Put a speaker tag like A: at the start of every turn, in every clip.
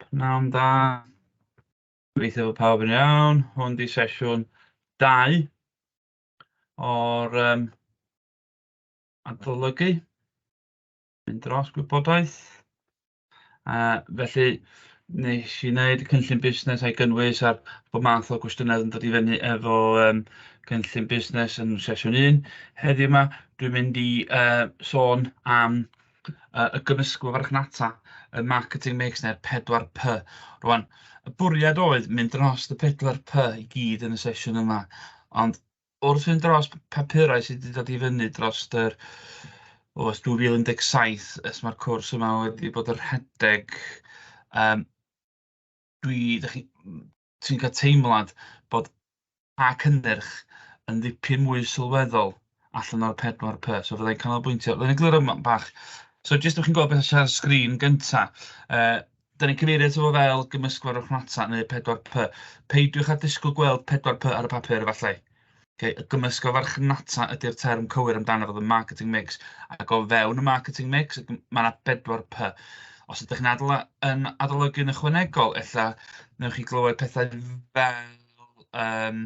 A: Pnawn da. Gobeithio bod pawb yn iawn. Hwn 'di sesiwn dau o'r yym adolygu. Mynd dros gwybodaeth. Uh, felly, nes i wneud cynllun busnes a'i gynnwys ar bod math o gwestiynau yn dod i fyny efo um, cynllun busnes yn sesiwn 1. Heddiw yma, dwi'n mynd i uh, sôn am yy y gymysgfa farchnata, y marketing mix neu'r 4P. Rwan, y bwriad oedd mynd dros y 4P i gyd yn y sesiwn yma, ond wrth fynd dros papurau sydd wedi dod i fyny dros yr o, 2017, ys mae'r cwrs yma wedi bod yn rhedeg, um, dwi, dych chi, ti'n cael teimlad bod pa cynnyrch yn ddipyn mwy sylweddol allan o'r 4P. So fydda i'n canolbwyntio, fydda i'n egluro yma bach. So jyst ydych chi'n gweld beth sydd ar y sgrin gyntaf. Uh, da ni'n cyfeirio ato fo fel gymysgwr o'ch rhata neu 4P. Peidiwch â disgwyl gweld 4P ar y papur efallai. Ocê, gymysg o farchnata ydy'r term cywir amdano fo, the marketing mix. Ac o fewn y marketing mix, mae yna bedwar P. Os ydych chi'n adol, yn adolygu yn ychwanegol, ella newch chi glywed pethau fel... Um,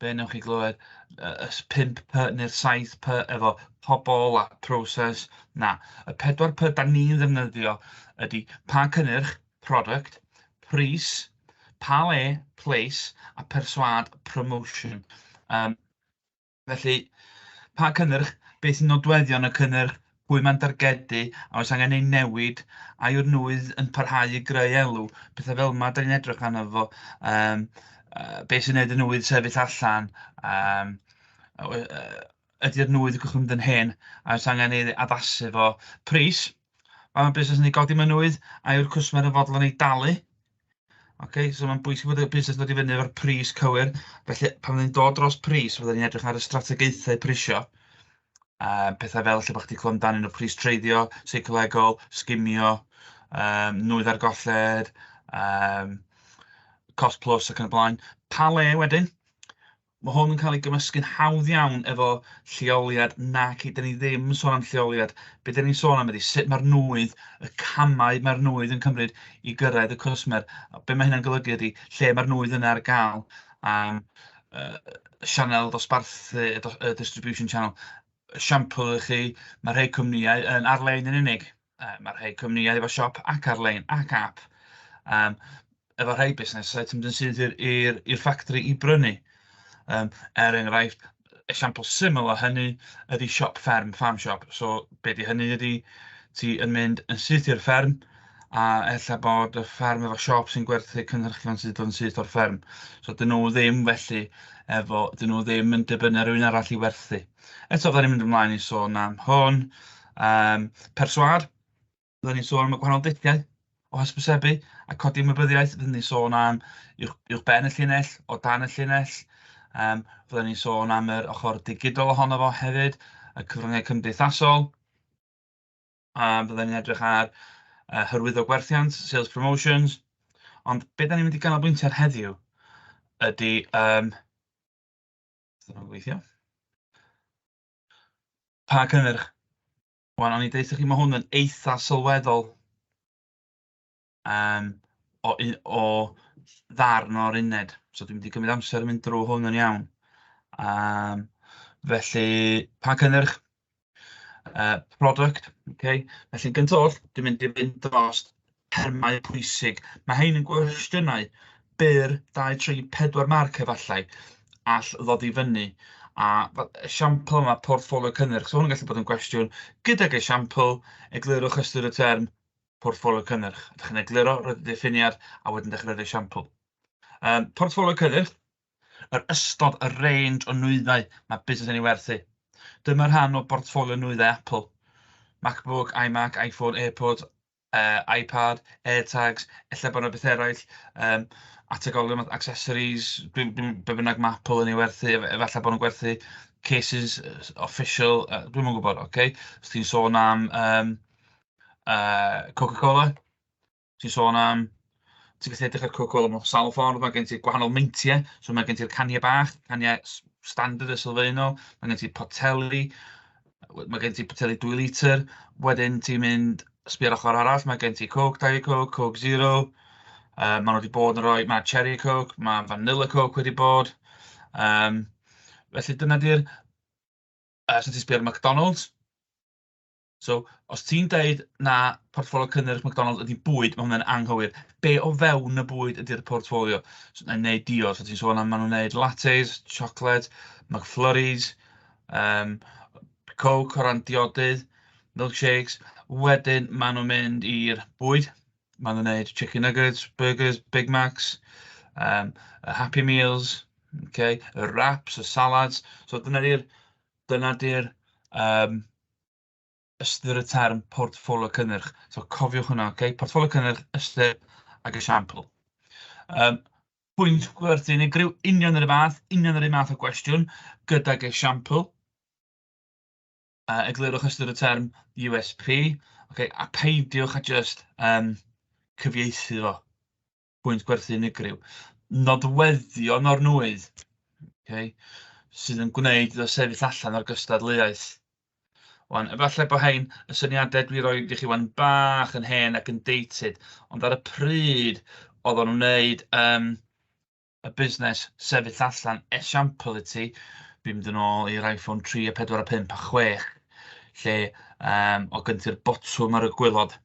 A: be newch chi glywed? Y 5 P neu'r 7 P efo pobl a proses. Na, y pedwar P da ni'n ddefnyddio ydy pa cynnyrch, product, pris, pale, place, a persuade, promotion. Um, felly, pa cynnyrch, beth sy'n nodweddion y cynnyrch, pwy mae'n dargedu, a oes angen ei newid, a yw'r nwydd yn parhau i greu elw, pethau fel yma, da ni'n edrych arno fo, um, uh, beth sy'n gwneud y nwydd sefyll allan, um, uh, ydy'r nwy wedi mynd yn hen a oes angen ei addasu fo. Pris, pan mae busnes yn ei godi mewn nwy, a yw'r cwsmer yn fodlon ei dalu? Ok, so mae'n bwysig bod y busnes yn dod i fyny efo'r pris cywir, felly pan fyddwn ni'n dod dros pris, fyddwn ni'n edrych ar y strategaethau prisio, uh, pethau fel lle bod chdi clywed amdanyn nhw, pris treiddio, seicolegol, sgimio, um, nwy ar golled, um, cost plus ac yn y blaen. Pa le wedyn? Mae hwn yn cael ei gymysgu'n hawdd iawn efo lleoliad, naci, dan ni ddim yn sôn am lleoliad. Be dan ni'n sôn am ydy sut mae'r nwydd, y camau mae'r nwydd yn cymryd i gyrraedd y cwsmer. A be mae hynna'n golygu ydy lle mae'r nwydd yna ar gael am uh, sianel dosbarthu, y distribution channel, siampl i chi, mae rhai cwmnïau yn ar-lein yn unig. Yy ma' rhai cwmnïau efo siop ac ar-lein ac ap yym efo rhai busnesau ti'n mynd yn syth i'r i'r i'r ffactri i brynu. Yym er enghraifft, esiampl syml o hynny ydy siop fferm, farm shop. So be 'di hynny ydy ti yn mynd yn syth i'r fferm a ella bod y fferm efo siop sy'n gwerthu cynhyrchion sy'n dod yn syth o'r fferm. So 'dyn nhw ddim felly efo... 'dyn nhw ddim yn dibynnu ar rywun arall i werthu. Eto fydda ni'n mynd ymlaen i sôn am hwn. Yym, perswâd, fydden ni'n sôn am y gwahanol dulliau o hysbysebu a codi ymwybyddiaeth. Fydden ni'n sôn am uwch uwchben y llinell, o dan y llinell. Yym, fydden ni'n sôn am yr ochr digidol ohono fo hefyd, y cyfryngau cymdeithasol. Yym, fydden ni'n edrych ar yy hyrwyddo gwerthiant, sales promotions. Ond be dan ni'n mynd i ganolbwyntio ar heddiw ydy yym... Sut mae'n gweithio? Pa cynnyrch? Wel, o'n i'n deutha chi, mae hwn yn eitha sylweddol um, o, o ddarn o'r uned. So dwi'n mynd i gymryd amser yn mynd drwy hwn yn iawn. Um, felly, pa cynnyrch? Uh, product, okay. Felly, gyntaf, dwi'n mynd i fynd dros termau pwysig. Mae rhain yn gwestiynau byr, dau, tri, pedwar marc efallai, all ddod i fyny. A esiampl yma, portffolio cynnyrch. So hwn yn gallu bod yn gwestiwn gydag esiampl, eglurwch ystyr y term portffolio cynnyrch. Ydych chi'n egluro, roedd y diffiniad, a wedyn dechrau'r esiampl. Um, portffolio cynnyrch, yr ystod, y range o nwyddau mae busnes yn ei werthu. Dyma rhan o bortffolio nwyddau Apple. MacBook, iMac, iPhone, AirPods, yy iPad, AirTags, ella bod 'na betha eraill yym ategoleon fatha accessories, be be bynnag ma' Apple yn ei werthu, ef- efallai bod nhw'n gwerthu cases official, yy dwi'm yn gwybod ocê. Os ti'n sôn am yym yy Coca-Cola, ti'n sôn am... Ti'n gallu edrych ar y cwricwlwm mewn sawl ffordd. Mae gen ti gwahanol meintiau. So mae gen ti'r caniau bach, caniau standard a sylfaenol. Mae gen ti poteli. Mae gen ti poteli 2 litr. Wedyn ti'n mynd sbio ar ochr arall. Mae gen ti Coke, Diet Coke, Coke Zero. Uh, maen nhw wedi bod yn rhoi... Mae Cherry Coke, mae Vanilla Coke wedi bod. Um, felly dyna di'r... Uh, so ti'n sbio ar McDonald's. So os ti'n deud na portffolio cynnyrch McDonalds ydy bwyd, mae hwnna'n anghywir. Be o fewn y bwyd ydy'r portffolio? So, yn neud diod, so ti'n sôn am maen nhw'n neud lattes, chocolate, McFlurries, um, coke o ran diodydd, milkshakes. Wedyn maen nhw'n mynd i'r bwyd. Maen nhw'n neud chicken nuggets, burgers, Big Macs, um, Happy Meals, okay, y wraps, y salads. So dyna di'r dyna di'r um, ystyr y term portffolio cynnyrch. So cofiwch hwnna, okay? Portffolio cynnyrch, ystyr ac esiampl. Um, pwynt gwerthu unigryw, union yr un fath, union yr un math o gwestiwn, gydag esiampl. Uh, eglurwch ystyr y term USP, okay? a peidiwch a just um, cyfieithu fo. pwynt gwerthu unigryw. Nodweddion o'r nwy, okay, sydd yn gwneud iddo sefyll allan o'r gystadleuaeth. Wan, efallai bod hein y syniadau dwi roi i chi wan bach yn hen ac yn dated, ond ar y pryd oedd o'n wneud um, y busnes sefyll allan esiampl i ti, fi'n mynd yn ôl i'r iPhone 3 a 4 a 5 a 6, lle um, o gynti'r botwm ar y gwylod,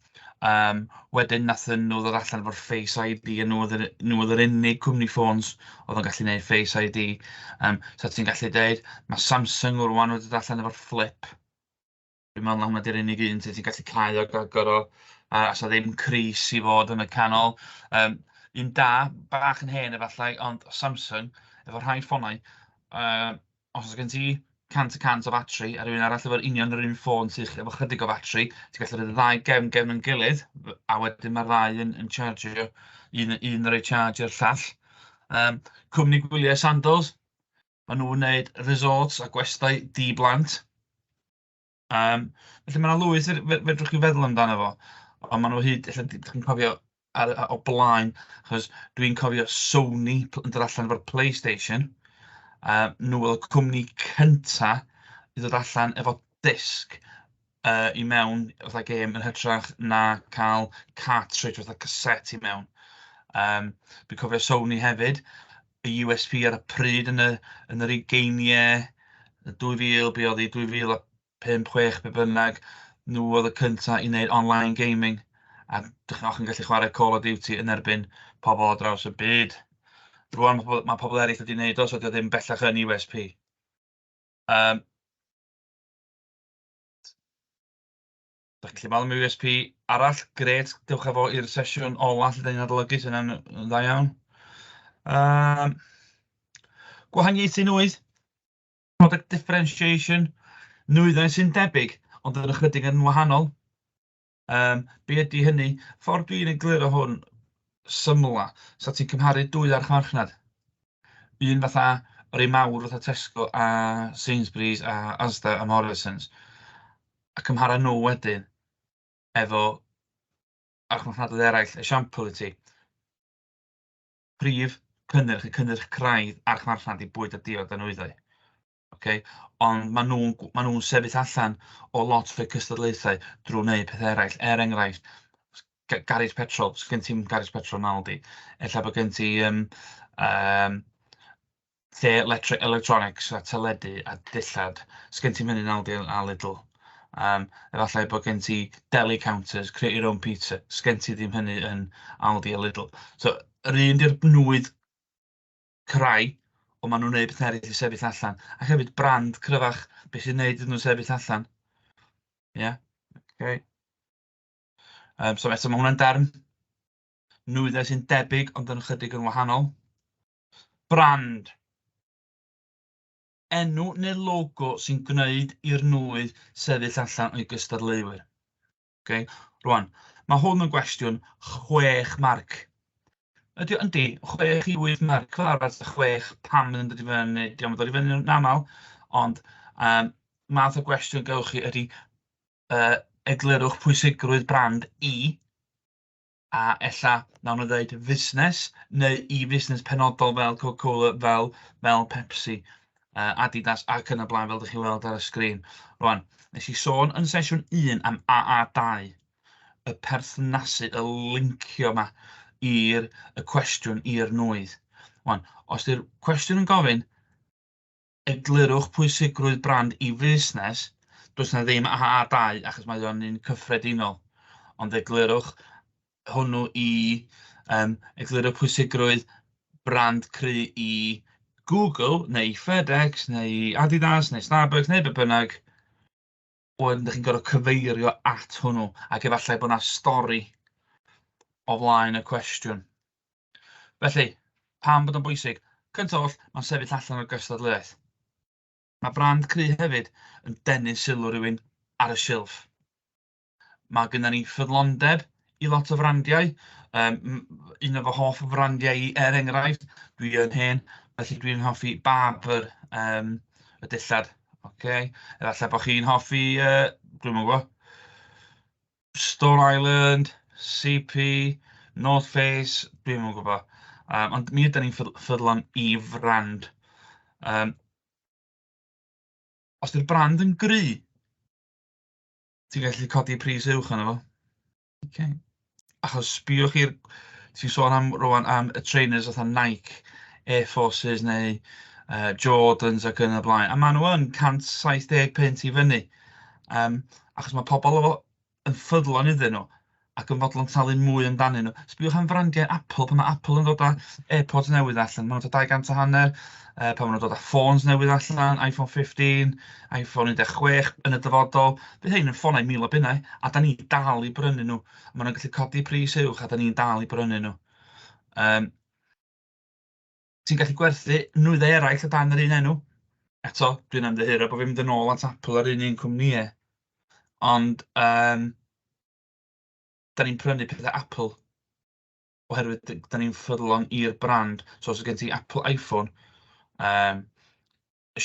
A: Yym, wedyn wnaethon nhw ddod allan efo'r Face ID, a nhw oedd yr... nhw oedd yr unig cwmni ffôns oedd yn gallu wneud Face ID. Yym, so ti'n gallu deud ma' Samsung rŵan wedi dod allan efo'r Flip. Dwi'n meddwl na hwnna 'di'r unig un lle ti'n gallu cau ac agor o, a 'sa ddim cris i fod yn y canol. Yym, un da, bach yn hen efallai, ond Samsung efo rhai ffonau yy... Os oes gen ti 100 y cant o fatri a rhywun arall efo'r union yr un ffôn sy efo chydig o fatri, ti'n gallu rhoi y ddau gefn gefn yn gilydd, a wedyn mae'r ddau yn yn charjio, un un yn rhoi charge i'r llall. Yym, cwmni gwyliau Sandals, maen nhw'n wneud resorts a gwestai di-blant. Yym, felly mae 'na lwyth fe- fe- fedrwch chi feddwl amdano fo, ond maen nhw o hyd, ella dach chi'n cofio ar y... o blaen, achos dwi'n cofio Sony p- yn dod allan efo'r Playstation, a nhw oedd y cwmni cynta i ddod allan efo disc yy i mewn fatha gêm yn hytrach na cael cartridge fatha cassette i mewn. Yym, dwi'n cofio Sony hefyd y USP ar y pryd yn y yn yr ugeiniau 2000, be oedd hi, 2005, 6 be bynnag, nhw oedd y cynta i wneud online gaming a dach chi'n gwbod chi'n gallu chwarae Call of Duty yn erbyn pobl ar draws y byd. Rŵan ma' pobl ma' pobl eraill wedi wneud o so 'di o ddim bellach yn USP. Yym. Dach chi'n gallu meddwl am USP arall grêt, dewch â fo i'r sesiwn ola lle dan ni'n adolygu, 'sa hynna'n yn dda iawn. Yym gwahaniaethu nwydd, product differentiation, nwyddau sy'n debyg ond yn ychydig yn wahanol. Yym be ydy hynny? Ffordd dwi'n egluro hwn symla, so ti'n cymharu dwy arch farchnad. Un fatha yr un mawr fatha Tesco a Sainsbury's a Asda a Morrisons. a cymhara nhw wedyn efo archfarchnadoedd eraill. Esiampl i ti, prif cynnyrch y cynnyrch craidd archfarchnad i bwyd a diod a nwyddau. Okay? Ond maen nhw'n ma nhw sefyll allan o lot o'r cystadlaethau drwy wneud pethau eraill. Er enghraifft, garej petrol, sgyn ti'n garej petrol yn Aldi. Ella bod gen ti um, um, lle electri- electronics a teledu a dillad. Oes gen ti'm hynny nawr de a Lidl. Yym efallai bod gen ti deli counters, create your own pizza. Oes gen ti ddim hynny yn Aldi a Lidl. So yr un 'di'r nwydd cry ond maen nhw'n wneud pethau eraill i sefyll allan. A hefyd brand cryfach be sy'n wneud iddyn nhw sefyll allan. Ie? Yeah? Okay. Um, so eto mae hwnna'n darn nwyddau sy'n debyg ond yn ychydig yn wahanol. Brand, enw neu logo sy'n gwneud i'r nwy sefyll allan o'i gystadleuwyr. Okay? Rwan, mae hwn yn gwestiwn chwech marc. Ydy, yndi, chwech i wyth marc, fel arfer ta chwech, pam yn dod i fyny, di am dod i fyny yn aml, ond um, math o gwestiwn gawch chi ydy, uh, eglurwch pwysigrwydd brand i a ella wnawn nhw ddeud fusnes neu i fusnes penodol fel Coca-Cola, fel fel Pepsi, uh, Adidas ac yn y blaen fel ydych chi'n weld ar y sgrin. Rwan, nes i sôn yn sesiwn 1 am AA2, y perthnasu, y lincio yma i'r y cwestiwn i'r nwydd. Rwan, os ydy'r cwestiwn yn gofyn, Eglurwch pwysigrwydd brand i fusnes, does yna ddim AA2 achos mae o'n un cyffredinol, ond eglurwch hwnnw i, um, eglurwch pwysigrwydd brand cry i Google neu i FedEx neu i Adidas neu Starbucks neu be bynnag, wedyn ydych chi'n gorfod cyfeirio at hwnnw, ac efallai bod yna stori o flaen y cwestiwn. Felly, pam bod o'n bwysig? Cyntaf oll, mae'n sefyll allan o'r gystadleuaeth. Mae brand cry hefyd yn denu sylw rhywun ar y silff. Mae gyda ni ffyddlondeb i lot o frandiau. Yym m- un o fy hoff frandiau i, er enghraifft, dwi yn hen, felly dwi'n hoffi Barbour yym y dillad. Ocê? Efallai bod chi'n hoffi yy, dwi'm yn gwybod, Stone Island, CP, North Face, dwi'm yn gwybod. Yym ond mi ydan ni'n ffydd- ffyddlon i frand. Yym os 'di'r brand yn gryf... Ti'n gallu codi pris uwch arno fo. Ok. Achos sbïwch chi'r... ti'n sôn am rŵan am y trainers fatha Nike, Air Forces neu yy Jordans ac yn y blaen. A maen nhw yn 170 punt i fyny. Yym achos mae pobl yn ffyddlon iddyn nhw. ac yn fodlon talu mwy amdanyn nhw. Sbïwch am frandiau Apple, pan mae Apple yn dod â AirPods newydd allan, maen nhw'n dod â 200 a hanner, uh, pan maen nhw'n dod â ffôns newydd allan, iPhone 15, iPhone 16 yn y dyfodol, bydd hyn yn ffonau mil o bunnau, a da ni dal i brynu nhw. Maen nhw'n gallu codi pris uwch, a da ni'n dal i brynu nhw. Um, Ti'n gallu gwerthu nwyddau eraill o dan yr un enw. Eto, dwi'n ymddiheuro bod fi'n mynd yn ôl at Apple a'r un un cwmnïau. Ond yym dan ni'n prynu pethau Apple oherwydd d- dan ni'n ffyddlon i'r brand. So os oes gen ti Apple iPhone yym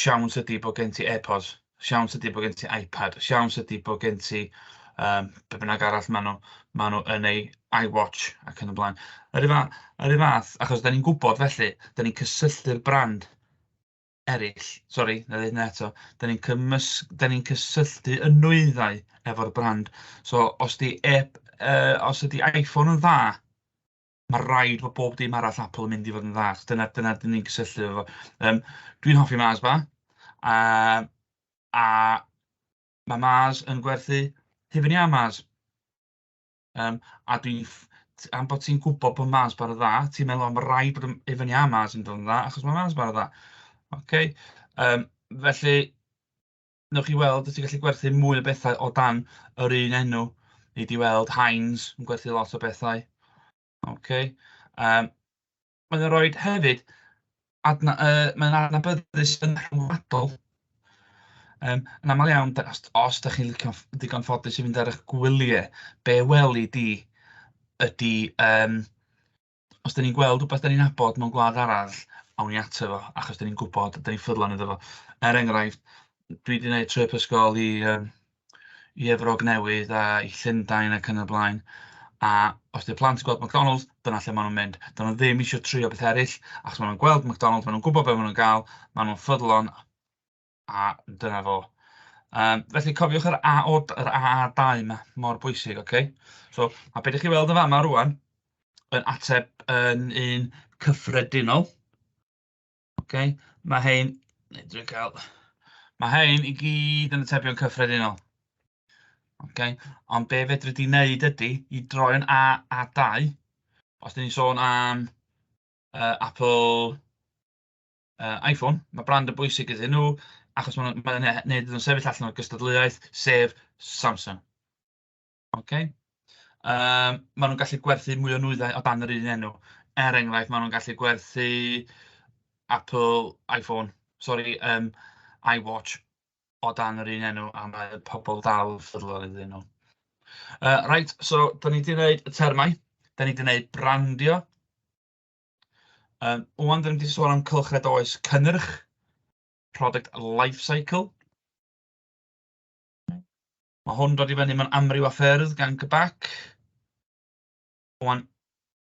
A: siawns ydy bod gen ti AirPods, siawns ydy bod gen ti iPad, siawns ydy bod gen ti yym be bynnag arall maen nhw maen nhw yn ei iWatch ac yn y blaen. Yr un fath yr un fath achos dan ni'n gwybod felly, dan ni'n cysylltu'r brand eraill, sori, na ddeud hynna eto, dan ni'n cymys... dan ni'n cysylltu y nwyddau efo'r brand. So os di e- yy os ydi iPhone yn dda, Mae'n rhaid bod bob dim arall Apple yn mynd i fod yn dda, achos dyna dyna dan ni'n cysylltu efo fo. Yym, dwi'n hoffi Mars bar, a a ma' Mars yn gwerthu hufen iâ Mars. Yym, a dwi'n ff- t- am bod ti'n gwybod bod Mars bar yn dda, ti'n meddwl, "o ma' raid bod y hufen iâ Mars yn dod yn dda, achos ma' Mars bar yn dda". Ocê? Yym, felly... wnewch chi weld, wyt ti'n gallu gwerthu mwy o bethau o dan yr un enw. Nei di weld Heinz yn gwerthu lot o bethau. Ok yym mae'n nhw'n rhoi hefyd adna- yy mae'n adnabyddus yn rhyngwladol. Yym yn aml iawn da- os os dach chi'n licio ff- digon ffodus i fynd ar eich gwyliau be weli di ydy yym Os dan ni'n gweld rywbeth dan ni'n nabod mewn gwlad arall, awn ni ato fo, achos dan ni'n gwybod, dan ni'n ffyddlon iddo fo. Er enghraifft, dwi 'di wneud trip ysgol i yym i Efrog Newydd a i Llundain ac yn y blaen, a os 'di'r plant yn gweld McDonalds, dyna lle maen nhw'n mynd. 'Dyn nhw ddim isio trio pethau eraill, achos maen nhw'n gweld McDonalds, maen nhw'n gwybod be maen nhw'n gael, maen nhw'n ffyddlon. A dyna fo. Yym felly cofiwch yr AO, yr AA2 'ma, mor bwysig ocê. So a be dach chi'n weld yn fama rŵan yn ateb yn un cyffredinol ocê ma' hein... neu dwi'n cael... ma' hein i gyd yn atebion cyffredinol ocê ond be fedri di wneud ydi i droi'n AA2 os dan ni'n sôn am yy Apple yy Iphone, ma' brand yn bwysig iddyn nhw achos maen nhw'n maen nhw'n neud iddyn nhw sefyll allan o'r gystadleuaeth, sef Samsung. Ok? Um, maen nhw'n gallu gwerthu mwy o nwyddau o dan yr un enw. Er enghraifft, maen nhw'n gallu gwerthu Apple iPhone, sori, um, iWatch o dan yr un enw a mae pobl dal yn ffyddlon iddyn nhw. Uh, right, so, da ni wedi gwneud y termau, da ni wedi gwneud brandio, Yym, ŵan dan ni 'di sôn am cylchred oes cynnyrch, product life cycle. Mae hwn dod i fyny mewn amryw o ffyrdd gan GBAC. Ŵan,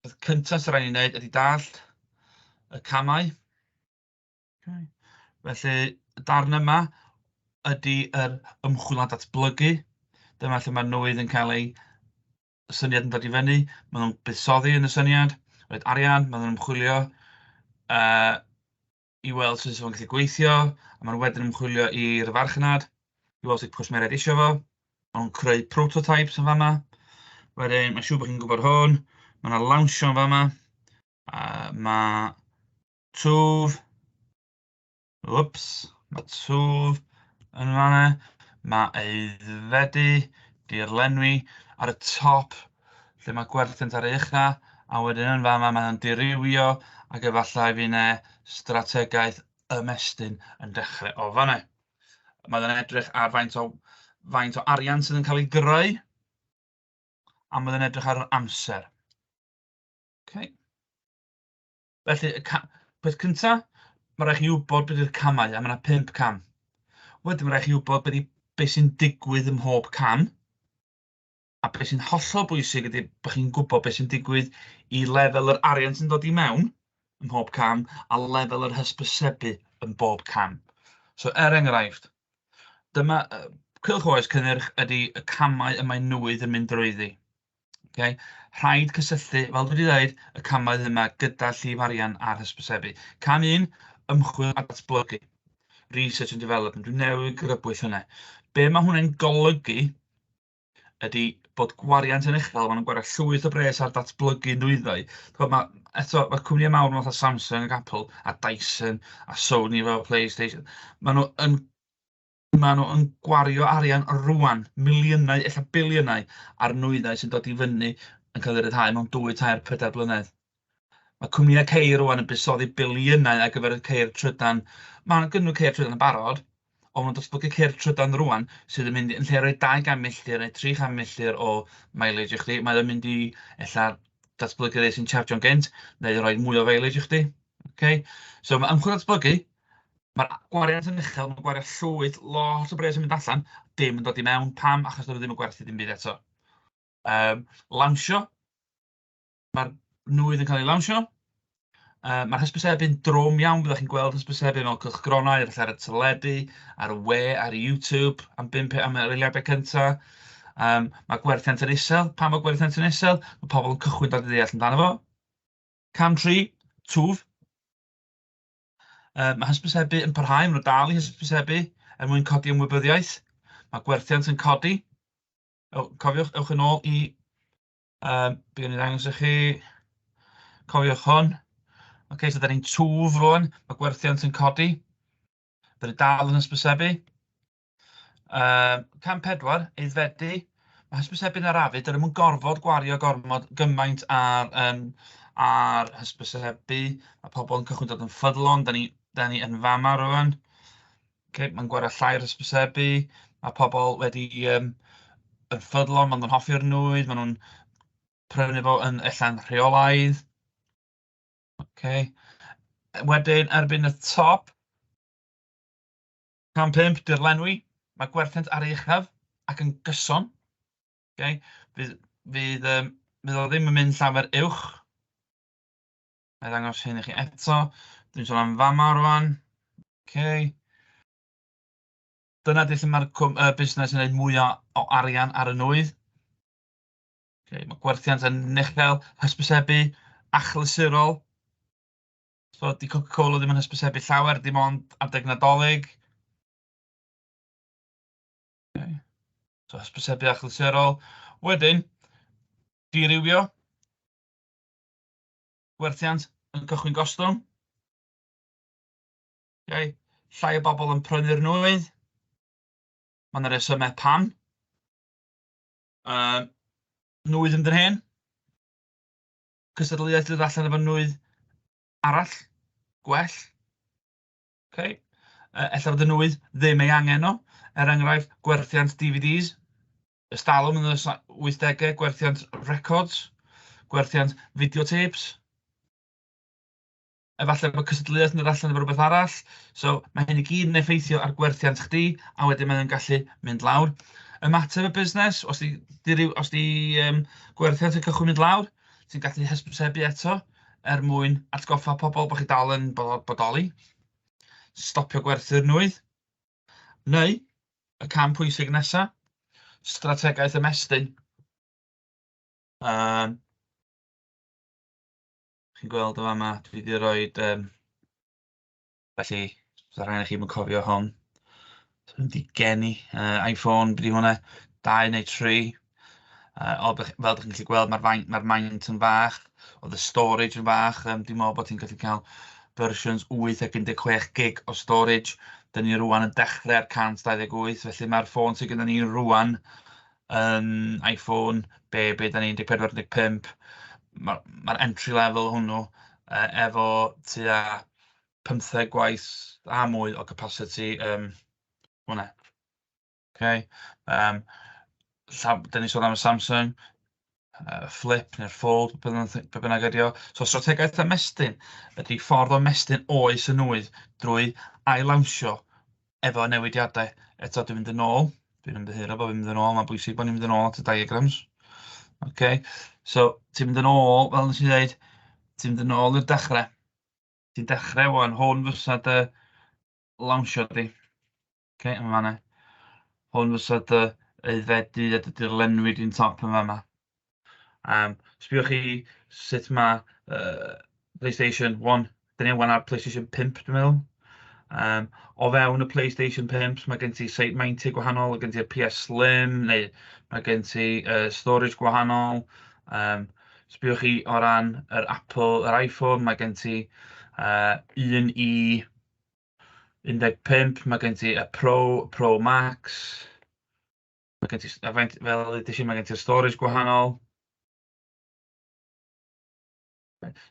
A: peth cyntaf sy'n rhaid i ni wneud ydy dallt y camau. Okay. Felly, y darn yma ydy yr ymchwil a datblygu. Dyma lle mae nwydd yn cael ei y syniad yn dod i fyny, maen nhw'n buddsoddi yn y syniad, roid arian, maen nhw'n ymchwilio yy i weld sut fysa fo'n gallu gweithio, a maen nhw wedyn yn ymchwilio i'r farchnad, i weld sut cwsmeriaid eisiau fo, maen nhw'n creu prototypes yn fama, wedyn mae'n siŵr bod chi'n gwybod hwn, mae yna lawnsio yn fama, uh, mae twf, Wps, mae twf yn fan'na. Mae aeddfedu, dirlenwi, ar y top lle mae gwerthynt ar ei ucha', a wedyn yn fan'ma mae o'n dirywio ac efallai fydd 'na strategaeth ymestyn yn dechrau o fan'na. Mae o'n edrych ar faint o faint o arian sydd yn cael ei greu a mae o'n edrych ar yr amser. Okay. Felly y ca- peth cyntaf, mae'n rhaid i chi wybod beth yw'r camau, a mae yna pump cam. Wedyn mae'n rhaid i chi wybod beth, beth sy'n digwydd ym mhob cam, a beth sy'n hollol bwysig ydy bod chi'n gwybod beth sy'n digwydd i lefel yr arian sy'n dod i mewn ym mhob cam a lefel yr hysbysebu yn bob cam. So er enghraifft, dyma uh, cylch oes cynnyrch ydy y camau y mae nwydd yn mynd drwyddi. Ocê, rhaid cysylltu, fel dwi 'di ddeud, y camau yma gyda llif arian ar hysbysebu. Cam un, ymchwil a datblygu, research and development, dwi'n newid grybwyll hynny. Be mae hwnna'n golygu ydy bod gwariant yn uchel, maen nhw'n gwario llwyth o bres ar datblygu nwyddau. Mae, eto, mae cwmnïau mawr yn fath Samsung ac Apple a Dyson a Sony fel PlayStation. Maen nhw yn Maen nhw yn gwario arian rŵan, miliynau, ella biliynau, ar nwyddau sy'n dod i fyny yn cael eu rhyddhau mewn dwy, tair, pedair blynedd. Mae cwmnïau ceir rŵan yn buddsoddi biliynau ar gyfer y ceir trydan. Maen gynnu ceir trydan yn barod, ond nhw'n datblygu ceir trydan rŵan sydd yn mynd yn lle rhoi 200 milltir neu 300 milltir o mileage i chdi, mae o'n mynd i ella datblygu rei sy'n chargio'n gynt neu rhoi mwy o mileage i chdi. Okay? So mae ymchwil datblygu, Mae'r gwariant yn uchel, mae'n gwariant llwyd, lot o bres yn mynd allan, dim yn dod i mewn, pam? Achos dod ddim yn gwerthu dim byd eto. Um, lawnsio, mae'r nwydd yn cael ei lawnsio, uh, mae'r hysbysebu'n drwm iawn, byddwch chi'n gweld hysbysebu mewn cylchgronau, efallai ar y teledu, ar y we, ar YouTube, am 5 am yr eiliadau cyntaf. Um, mae gwerthiant yn isel, pam mae gwerthiant yn isel? Mae pobl yn cychwyn dod i ddeall amdano fo. Cam 3, twf, Yy, mae hysbysebu yn parhau, maen nhw dal i hysbysebu er mwyn codi ymwybyddiaeth. Mae gwerthiant yn codi. Ew, cofiwch, ewch yn ôl i... Um, Bydd yn ddangos i chi. Cofiwch hwn. OK, so da ni'n twf rwan. Mae gwerthiant yn codi. Bydd yn dal yn hysbysebu. Yy cam pedwar, aeddfedu. Mae hysbysebu yn arafu, dydyn nhw'm yn gorfod gwario gormod gymaint ar yym ar hysbysebu. Mae pobl yn cychwyn dod yn ffyddlon, dan ni dan ni yn fama rŵan. Ocê mae'n gwario llai ar hysbysebu. Mae pobl wedi yym yn ffyddlon, maen nhw'n hoffi'r nwy, maen nhw'n prynu fo yn ella'n rheolaidd. Ocê wedyn erbyn y top. Cam pump, dirlenwi. Mae gwerthiant ar ei uchaf ac yn gyson. Okay? Fydd, fydd, um, fydd o ddim yn mynd llawer uwch. Mae ddangos hyn i chi eto. Dwi'n sôn am fama rwan. Okay. Dyna di lle mae'r uh, busnes yn gwneud mwy o, o arian ar y nwy. Okay. Mae gwerthiant yn uchel, hysbysebu, achlysurol. Tibod, 'di Coca-Cola ddim yn hysbysebu llawer, dim ond adeg Nadolig. So hysbysebu achlysurol. Wedyn, dirywio. Gwerthiant yn cychwyn gostwng. Okay. Llai o bobl yn prynu'r nwy. Mae yna resymau pam. Um, nwy ddim dyn hen. cystadleuaeth dod allan efo nwy arall, gwell. Okay. Uh, ella fod y nwy ddim ei angen nhw. Er enghraifft, gwerthiant DVDs, ystalwm yn y 80au, gwerthiant records, gwerthiant videotapes. efallai bod cystadleuaeth yn dod allan efo rhywbeth arall. So mae hyn i gyd yn effeithio ar gwerthiant chdi a wedyn mae'n gallu mynd lawr. Ymateb y busnes, os di, di, ryw, os di um, gwerthiant y cychwyn mynd lawr, ti'n gallu hysbysebu eto er mwyn atgoffa pobl bod chi dal yn bodoli. Stopio gwerthu'r nwydd. Neu, y cam pwysig nesaf, strategaeth ymestyn. Um, chi'n gweld yn fama, dwi 'di roid yym... Felly, byddai rhai ohonnoch chi ddim yn cofio hon. Dwi 'di geni yy Iphone, be 'di hwnna? Dau neu tri. Yy o be- fel dach chi'n gallu gweld ma'r fain- ma'r maint yn fach, oedd y storage yn fach. Yym dwi'n meddwl bod ti'n gallu cael fersiwns wyth ac un deg chwech gig o storage. Dan ni rŵan yn dechrau ar cant dau ddeg wyth, felly ma'r ffôn sy gennyn ni rŵan yn Iphone, be be dan ni 14, 15, ma' ma'r entry level o hwnnw yy efo tua pymtheg gwaith a mwy o capasiti yym hwnna ocê yym llaw- dan ni'n sôn am y Samsung. yy flip neu'r fold be bynnag be bynnag ydy o. So strategaeth ymestyn ydy ffordd o ymestyn oes yn nwy drwy ail-lawnsio efo newidiadau. Eto dwi'n mynd yn ôl, dwi'n ymddiheuro bod fi'n mynd yn ôl, mae'n bwysig bod ni'n mynd yn ôl at y diagrams. OK, so ti'n mynd yn ôl, fel nes i ddeud, ti'n mynd yn ôl i'r dechrau. Ti'n dechrau wan, hwn fysa dy lawnsio di. Oce, yn fan'na. Hwn fysa dy aeddfedu a dy dirlenwi di'n top yn fan'na. Um, sbïwch chi sut mae uh, PlayStation 1, dyn ni wan ar PlayStation 5 dwi'n meddwl. Um, o fewn y PlayStation 5 mae gen ti site 90 gwahanol, mae gen ti'r PS Slim neu mae gen ti uh, storage gwahanol. Um, sbïwch chi o ran yr Apple, yr iPhone, mae gen ti uh, un i 15, mae gen ti y Pro, Pro Max. Mae gen ti... a faint... fel ddeudais i, mae gen ti'r storage gwahanol.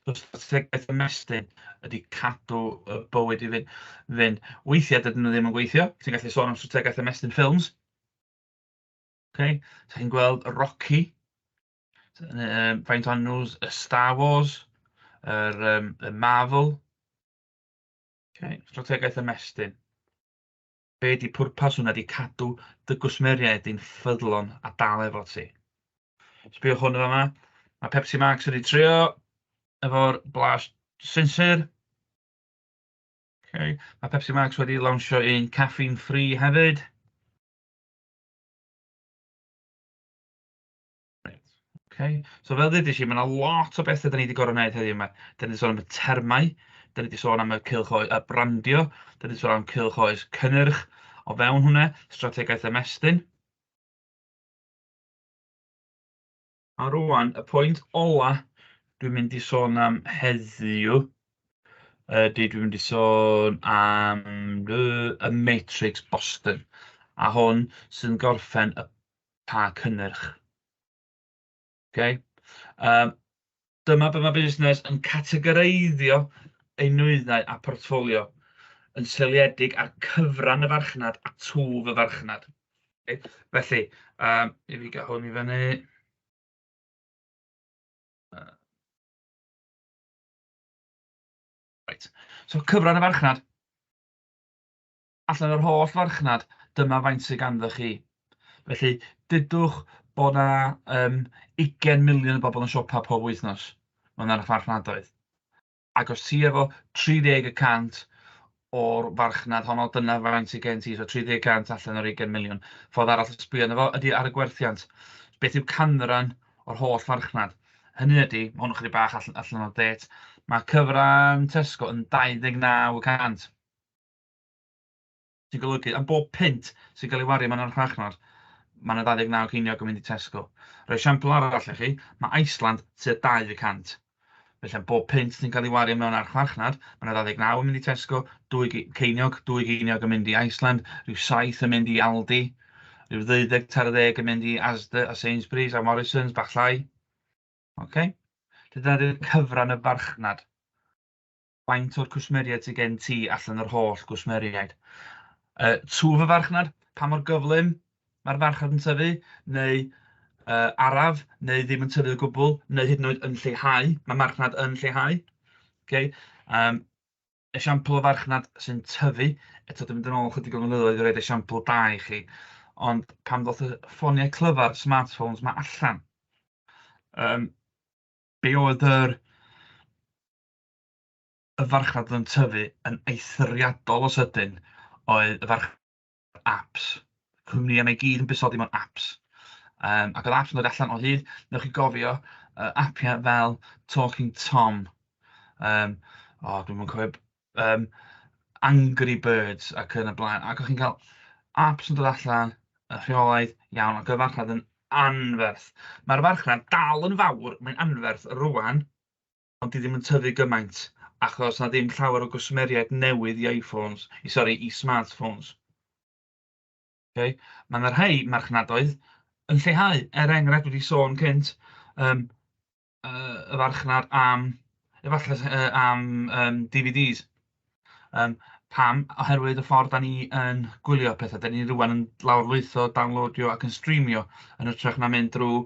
A: So strategaeth ymestyn ydy cadw y bywyd i fynd. fynd. Weithiau dydyn nhw ddim yn gweithio. Ti'n gallu sôn am strategaeth ymestyn ffilms. Okay. So chi'n gweld Rocky, um, faint o'n nhw's y Star Wars, yr, um, y Marvel, Ok, strategaeth ymestyn. Be ydy pwrpas hwnna? Ydy cadw dy gwsmeriaid i'n ffyddlon a dal efo ti. Sbiwch hwn yma. Mae Pepsi Max wedi trio efo'r blas sinsir. Okay. Mae Pepsi Max wedi lawnsio un caffeine free hefyd. Reit, ocê. So fel ddeudais i, mae 'na lot o betha 'da ni 'di gorod neud heddiw 'ma. 'Da ni 'di sôn am y termau, 'da ni 'di sôn am y cylch oe- y brandio, 'da ni 'di sôn am cylch oes cynnyrch o fewn hwnna, strategaeth ymestyn. A rŵan, y pwynt ola dwi'n mynd i sôn am heddiw ydy dwi'n mynd i sôn am y Matrix Boston a hwn sy'n gorffen y pa cynnyrch. Okay? Um, dyma beth mae busnes yn categoreiddio ei nwyddau a portfolio yn seiliedig ar cyfran y farchnad a twf y farchnad. Okay? Felly, um, i fi gael hwn i fyny. Right. So cyfran y farchnad. allan yr holl farchnad, dyma faint sydd ganddoch chi. Felly, dydwch bod yna um, 20 miliwn o bobl yn siopa pob wythnos mewn arch farchnadoedd. Ac os ti efo 30 y cant o'r farchnad honno, dyna faint sydd gen ti, so 30 cant allan o'r 20 miliwn. Ffordd arall o sbio yna fo ydy ar y gwerthiant. Beth yw canran o'r holl farchnad? Hynny ydy, mae hwn yn chydig bach allan, allan o'r det, mae cyfran Tesco yn 29 y cant. Sy'n golygu, am bob punt sy'n cael ei wario mewn archfarchnad, mae 'na 29 ceiniog yn mynd i Tesco. Rhoi esiampl arall i chi, mae Iceland tua 200. Felly am bob punt sy'n cael ei wario mewn archfarchnad, mae 'na 29 yn mynd i Tesco, dwy ceiniog, dwy geiniog yn mynd i Iceland, rhyw saith yn mynd i Aldi, rhyw ddeuddeg tair ddeg yn mynd i Asda a Sainsbury's a Morrisons, bach llai. Okay? Dyna 'di'r cyfran y farchnad. faint o'r cwsmeriaid sydd gen ti allan o'r holl gwsmeriaid. Uh, twf y farchnad, pa mor gyflym mae'r farchnad yn tyfu, neu uh, araf, neu ddim yn tyfu o gwbl, neu hyd yn oed yn lleihau, mae marchnad yn lleihau. Okay? Um, esiampl o farchnad sy'n tyfu, eto dwi'n mynd yn ôl chydig o flynyddoedd i roed esiampl da i chi, ond pan ddoth y ffoniau clyfar, smartphones, mae allan, um, be oedd yr y farchnad oedd yn tyfu yn eithriadol o sydyn oedd y farchnad apps. Cwmnïau 'ma i gyd yn busodi mewn apps. Um, ac oedd apps yn dod allan o hyd, newch chi gofio, uh, appiau fel Talking Tom, um, o, oh, dwi'n mwyn cofio, um, Angry Birds ac yn y blaen. Ac o'ch chi'n cael apps yn dod allan, y rheolaidd, iawn, ac oedd farchnad yn anferth. Mae'r farchnad dal yn fawr, mae'n anferth rwan, ond 'di ddim yn tyfu gymaint achos na ddim llawer o gwsmeriaid newydd i iPhones, i sori, i smartphones. Okay? Mae yna rhai marchnadoedd yn lleihau, er enghraifft wedi sôn cynt, um, uh, y farchnad am, efallai uh, am um, DVDs, Yym, pam? Oherwydd y ffordd da ni yn gwylio pethau. Da ni rwan yn lawrlwytho, downloadio ac yn streamio yn hytrach na mynd drwy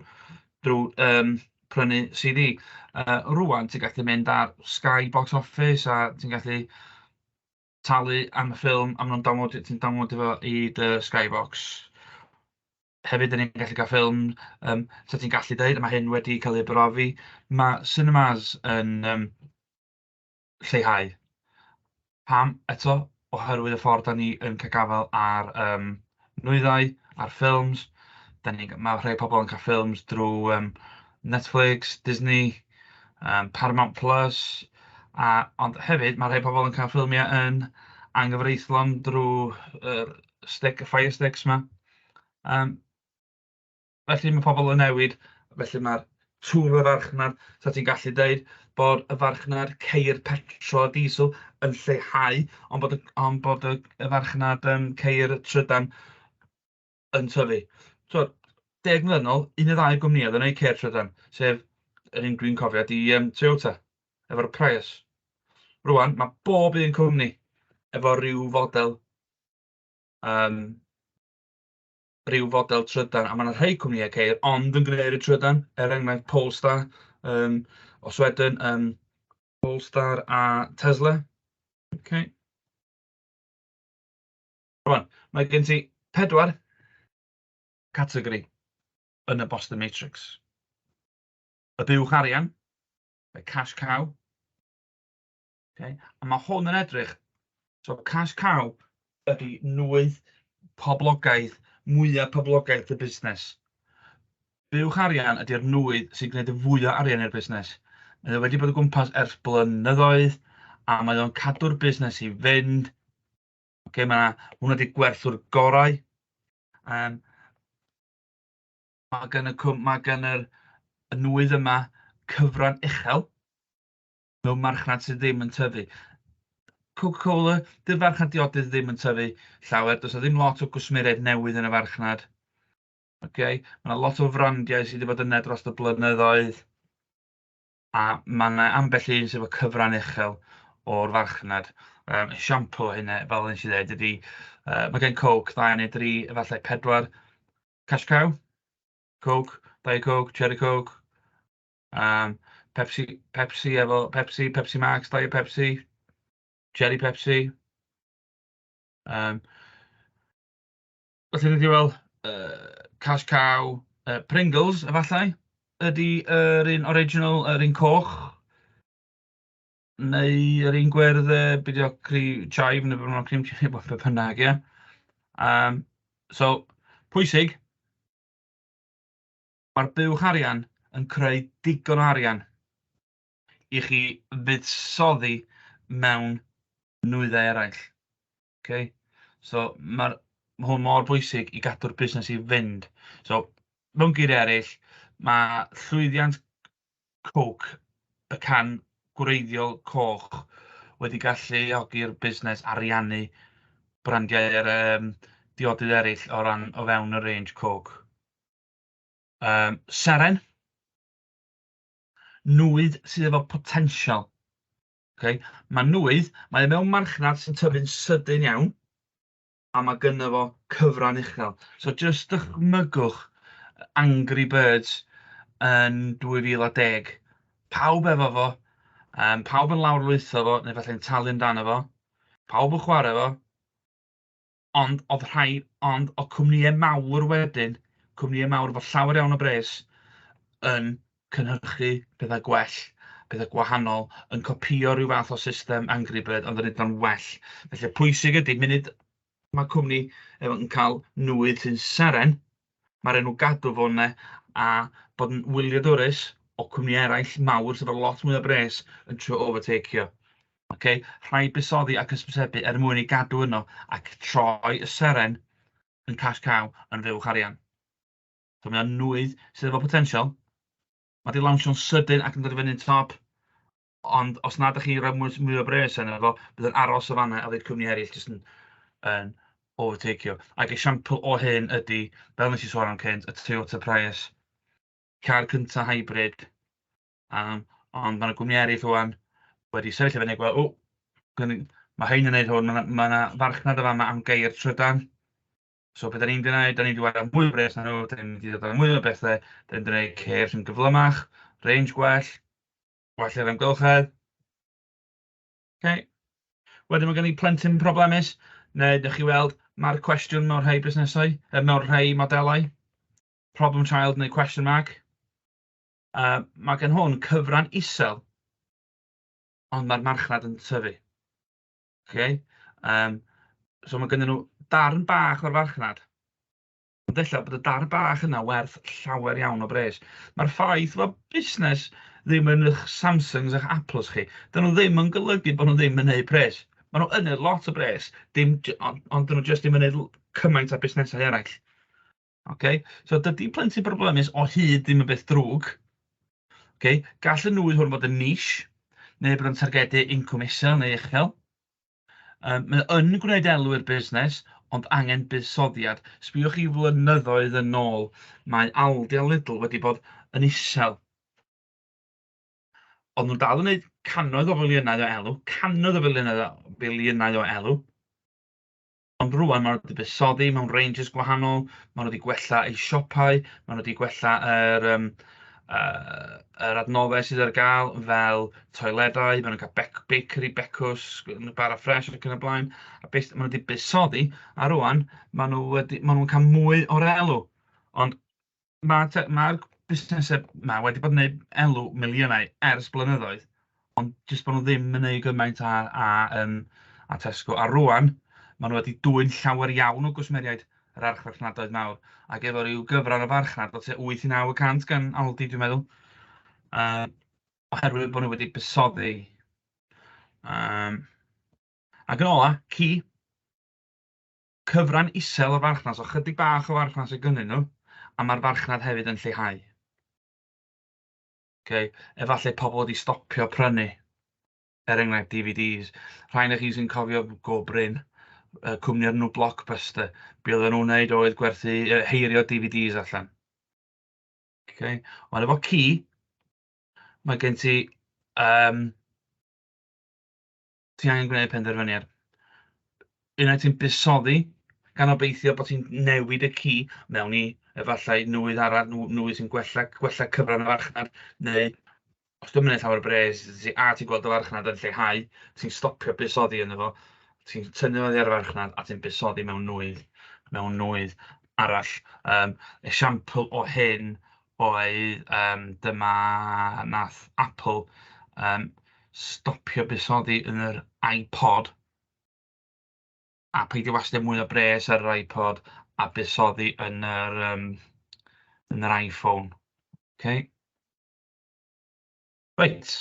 A: drwy yym prynu CD. Yy, rŵan ti'n gallu mynd ar Sky Box Office a ti'n gallu talu am y ffilm a maen nhw'n downloadio... ti'n downloadio fo i dy Sky Box. Hefyd dan ni'n gallu cael ffilm yym 'sa ti'n gallu deud a ma' hyn wedi cael ei brofi, ma' cinemas yn yym... lleihau. Pam? Eto, oherwydd y ffordd dan ni yn cael gafael ar yym nwyddau, ar ffilms. Dan ni... ma' rhai pobl yn cael ffilms drwy yym Netflix, Disney, yym Paramount Plus, a... ond hefyd ma' rhai pobl yn cael ffilmiau yn anghyfreithlon drwy yr stick... y Fire Sticks 'ma yym. Felly mae pobl yn newid, felly mae'r twf y farchnad, so ti'n gallu deud bod y farchnad ceir petrol a diesel yn lleihau, ond bod y, ond bod y, y farchnad um, ceir trydan yn tyfu. So, deg mlynedd ôl, un o ddau gwmnïau oedd yn ei ceir trydan, sef yr un dwi'n cofio, di um, Toyota, efo'r Prius. Rwan, mae bob un cwmni efo rhyw fodel um, rhyw fodel trydan, a mae yna rhai cwmnïau ceir ond yn gwneud y trydan, er enghraifft Polestar um, o Sweden, um, Polestar a Tesla. Okay. Rwan, mae gen ti pedwar categori yn y Boston Matrix. Y buwch arian, y cash cow, Okay. A mae hwn yn edrych, so cash cow ydy nwy poblogaidd, mwyaf poblogaidd y busnes. Buwch arian ydy'r nwy sy'n gwneud y fwyaf arian i'r busnes. Mae wedi bod o gwmpas ers blynyddoedd a mae o'n cadw'r busnes i fynd. Okay, mae hwnna wedi gwerthu'r gorau. Um, mae gen y, mae gen yr, y nwydd yma cyfran uchel mewn marchnad sydd ddim yn tyfu. Coca-Cola, dy'r farchnad diodydd ddim yn tyfu llawer, does ddim lot o gwsmeriaid newydd yn y farchnad. Okay? Mae yna lot o frandiau sydd wedi bod yna dros y blynyddoedd, a mae yna ambell un sydd efo cyfran uchel o'r farchnad. Um, siampo hynna, fel nes i ddweud, ydy, uh, mae gen Coke ddau neu dri, efallai pedwar, Cash Cow, Coke, Diet Coke, Cherry Coke, Yym Pepsi Pepsi efo Pepsi, Pepsi Max, Diet Pepsi, Cherry Pepsi. Yym felly dwi 'di weld yy Cash Cow, yy Pringles efallai ydy yr un original yr un coch neu yr un gwyrdd yy be' 'di o cri- chive neu be' bynnag cream chive neu be' bynnag ia? Yym so pwysig. Mae'r buwch arian yn creu digon o arian i chi fuddsoddi mewn nwyddau eraill. Okay? So, mae hwn mor bwysig i gadw'r busnes i fynd. So, mewn geiriau eraill, mae llwyddiant coc y can gwreiddiol coch wedi galluogi'r busnes ariannu brandiau er, um, diodydd eraill o ran o fewn y range coc. Yym, seren. Nwydd sydd efo potensial. Okay? Mae nwydd, mae e mewn marchnad sy'n tyfu'n sydyn iawn, a mae gynno fo cyfran uchel. So just dychmygwch Angry Birds yn 2010. Pawb efo fo, um, pawb yn lawr lwytho fo, neu falle'n talu amdano fo, pawb yn chwarae fo, ond oedd rhai... ond oedd cwmnïau mawr wedyn, cwmnïau mawr efo llawer iawn o bres yn cynhyrchu pethau gwell, pethau gwahanol, yn copïo ryw fath o system Angry Bird ond yn wneud o'n well. Felly, pwysig ydy, munud mae cwmni yn cael nwydd sy'n seren, Mae'r enw Gadw fo 'na a bod yn wyliadwrus o cwmni eraill mawr sydd efo lot mwy o bres yn trio overtakeio. Ok? Rhaid buddsoddi ac ysbysebu er mwyn ei gadw yno ac troi y seren yn cash cow yn fuwch arian. So mae o'n nwydd sydd efo potensial. Mae 'di lawnsio'n sydyn ac yn dod i fyny'n top. Ond os na dach chi'n rhoi mwy mwy o bres arno fo, bydd yn aros o fan'na a fydd cwmni eraill jyst yn yn overtakeio. Ac esiampl o hyn ydy, fel nes i sôn am cynt, y Toyota Prius, car cynta hybrid. Um, ond mae yna gwmni eraill rwan wedi sefyll i fyny a gweld, o, gwn i- ma' rhein yn wneud hwn, ma' 'na ma' 'na farchnad yn fama am geir trydan. So be 'dan ni'n mynd i wneud, 'dan ni'n mynd i wario mwy o bres arnyn nhw, 'dan ni'n mynd i ddod â mwy o bethe, 'dan ni'n mynd i wneud ceir sy'n gyflymach, range gwell. Gwell i'r amgylchedd. Ok. Wedyn mae gen i plentyn problemus, neu dych chi weld, mae'r cwestiwn mewn rhai busnesau, yy, mewn rhai modelau, problem child neu question mark. Uh, mae gen hwn cyfran isel, ond mae'r marchnad yn tyfu. Okay? Um, so mae gen nhw darn bach o'r farchnad, Ond ella bod y dar bach yna werth llawer iawn o bres. Mae'r ffaith fod busnes ddim yn eich Samsungs a'ch Apples chi, dyn nhw ddim yn golygu bod nhw ddim yn neud pres. Mae nhw yn neud lot o bres, dim, ond, ond dyn nhw jyst ddim yn neud cymaint a busnesau eraill. Okay? So dydy plentyn broblemus o hyd ddim yn beth drwg. Okay? Gall y nwy hwn fod yn nish, neu bod yn targedu incwm isel neu uchel. Yym mae o yn gwneud elw i'r busnes ond angen buddsoddiad. Sbïwch chi flynyddoedd yn ôl, mae Aldi a Lidl wedi bod yn isel. Ond nhw'n dal yn gwneud cannoedd o filiynau o elw, cannoedd o filiynau o filiynau o elw. Ond rŵan maen nhw wedi buddsoddi mewn ranges gwahanol, maen nhw wedi gwella eu siopau, maen nhw wedi gwella yr yym yy yr adnoddau sydd ar gael fel toiledau, maen nhw'n cael bec- bakery becws, bara ffres ac yn y blaen, a beth maen nhw wedi buddsoddi, a rŵan maen nhw wedi maen nhw'n cael mwy o'r elw, ond Mae te- mae'r busnesau 'ma wedi bod yn wneud elw miliynau ers blynyddoedd, ond jyst bod nhw ddim yn wneud gymaint â â yym â Tesco. A rŵan, maen nhw wedi dwyn llawer iawn o gwsmeriaid yr archfarchnadoedd mawr, ac efo ryw gyfran o farchnad o tua wyth i naw y cant gan Aldi, dwi'n meddwl, yym, oherwydd bod nhw wedi buddsoddi. Yym, ac yn ola, ci. Cyfran isel o farchnad, so chydig bach o farchnad sy gynnyn nhw, a mae'r farchnad hefyd yn lleihau. Okay. Efallai pobl wedi stopio prynu, er enghraifft DVDs. Rhain o chi sy'n cofio go brin, uh, cwmni o'r nhw Blockbuster. Be oedden nhw'n wneud oedd gwerthu, uh, heirio DVDs allan. Okay. Ond efo ci, mae gen ti um, ti angen gwneud penderfyniad. Unai ti'n busoddi, gan obeithio bod ti'n newid y ci mewn i efallai nwydd arall, nwydd sy'n gwella, gwella cyfran y farchnad, neu os dwi'n mynd llawer o bres, a ti'n gweld y farchnad yn lleihau, ti'n stopio busoddi yn efo, ti'n tynnu oddi ar y farchnad a ti'n busoddi mewn nwydd, mewn nwydd arall. Um, esiampl o hyn oedd yym dyma wnaeth Apple yym stopio buddsoddi yn yr iPod, a peidio wastio mwy o bres ar yr iPod a buddsoddi yn yr yym yn yr iPhone. Ok. Reit.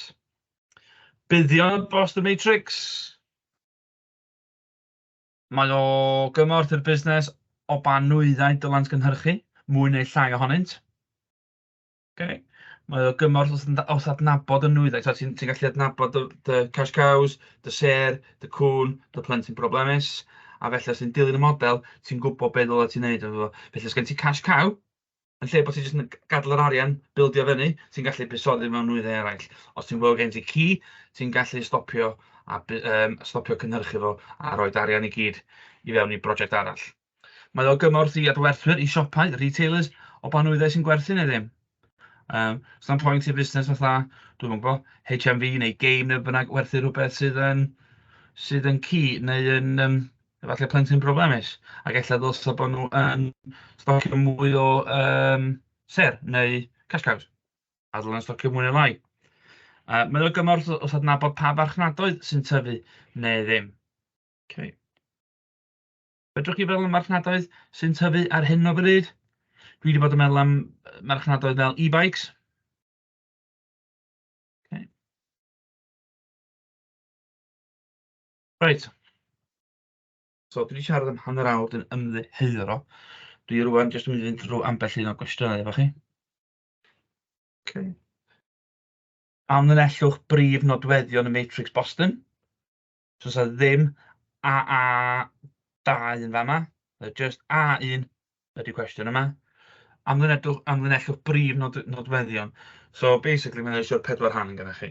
A: Buddion dros The Matrix. Mae o gymorth i'r busnes o ba nwyddau dylent gynhyrchu mwy neu llai ohonynt. Ok. Mae o gymorth wrth yn- wrth adnabod y nwyddau. Tibod, ti'n ti'n gallu adnabod dy dy cash cows, dy sêr, dy cŵn, dy plentyn problemus, a felly os ti'n dilyn y model, ti'n gwybod be' ddyla ti'n neud efo fo. Felly os gen ti cash cow, yn lle bod ti jyst yn g- gadael yr arian bildio fyny, ti'n gallu buddsoddi mewn nwyddau eraill. Os ti'n gweld gen ti ci, ti'n gallu stopio a bu- yym, stopio cynhyrchu fo a rhoi arian i gyd i fewn i brosiect arall. Mae o gymorth i adwerthwyr, i siopau, retailers, o ba nwyddau sy'n gwerthu neu ddim. Um, Stan pwynt i fusnes fatha, dwi'n mwyn gwybod, HMV neu game neu bynnag werthu rhywbeth sydd yn, sydd yn cu neu yn, um, Efallai plentyn problemus, ac ella ddylsa bod nhw yn stocio mwy o yym sêr neu cash cows, a ddylen nhw stocio mwy neu lai. Yy mae o gymorth o- os adnabod pa farchnadoedd sy'n tyfu neu ddim. Okay. Fedrwch chi feddwl am marchnadoedd sy'n tyfu ar hyn o bryd? Dwi wedi bod yn meddwl am yy marchnadoedd fel e-bikes. Okay. Reit. So dwi 'di siarad am hanner awr, dwi'n ymddiheuro. Dwi rŵan jyst yn mynd i fynd drwy ambell un o gwestiynau efo chi. Okay. Amlinellwch brif nodweddion y matrix Boston. So sa ddim AA2 yn fama, just A1, ydy'r cwestiwn yma. Amlinellwch, amlinellwch brif nod, nodweddion. So basically mae'n eisiau pedwar rhan gyda chi.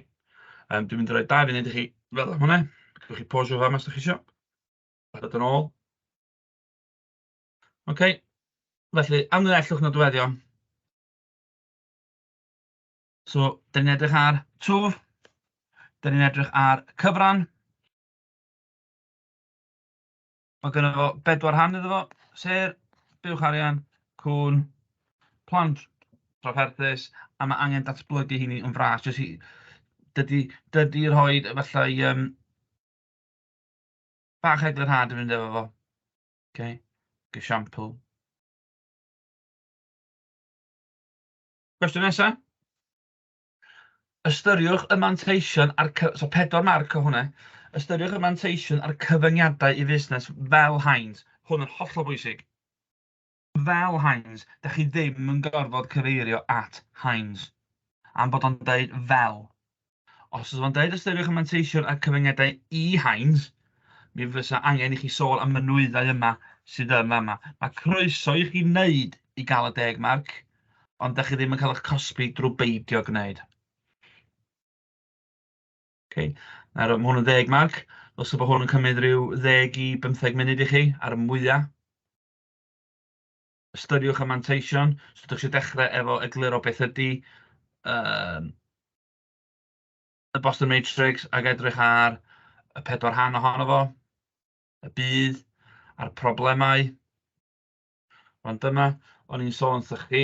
A: Um, dwi'n mynd i roi dau funud i chi fel am hwnna. Gwch chi posio fama os ydych chi eisiau. A dod yn ôl. OK. Felly, amlinellwch nodweddion. So, da ni'n edrych ar twf. Da ni'n edrych ar cyfran. Mae gynno fo bedwar rhan iddo fo, sef buwch arian, cŵn, plan trafferthus, a mae angen datblygu hynny yn fras. Jyst i... dydy dydy rhoi efallai yym bach eglurhad yn mynd efo fo. Ok, esiampl. Cwestiwn nesaf? Ystyriwch y manteision a'r cy-... so pedwar marc o hwnna. Ystyriwch y manteision a'r cyfyngiadau i fusnes fel Heinz. Hwn yn hollol bwysig. Fel Heinz, da chi ddim yn gorfod cyfeirio at Heinz am bod o'n deud fel. Os oes o'n deud ystyriwch y manteision a'r cyfyngiadau i Heinz, mi fysa angen i chi sôn am y nwyddau yma sydd yn fama. Mae croeso i chi wneud i gael y deg marc. ond da chi ddim yn cael eich cosbi drwy beidio gwneud. Okay. Nawr, mae hwn yn ddeg mag. Os yw hwn yn cymryd rhyw ddeg i bymtheg munud i chi, ar y mwyaf. Ystyriwch y manteision. Os ydych chi'n dechrau efo egluro beth ydy um, y Boston Matrix ac edrych ar y pedwar rhan ohono fo, y bydd, a'r problemau. Ond dyma, o'n i'n sôn wrthych chi,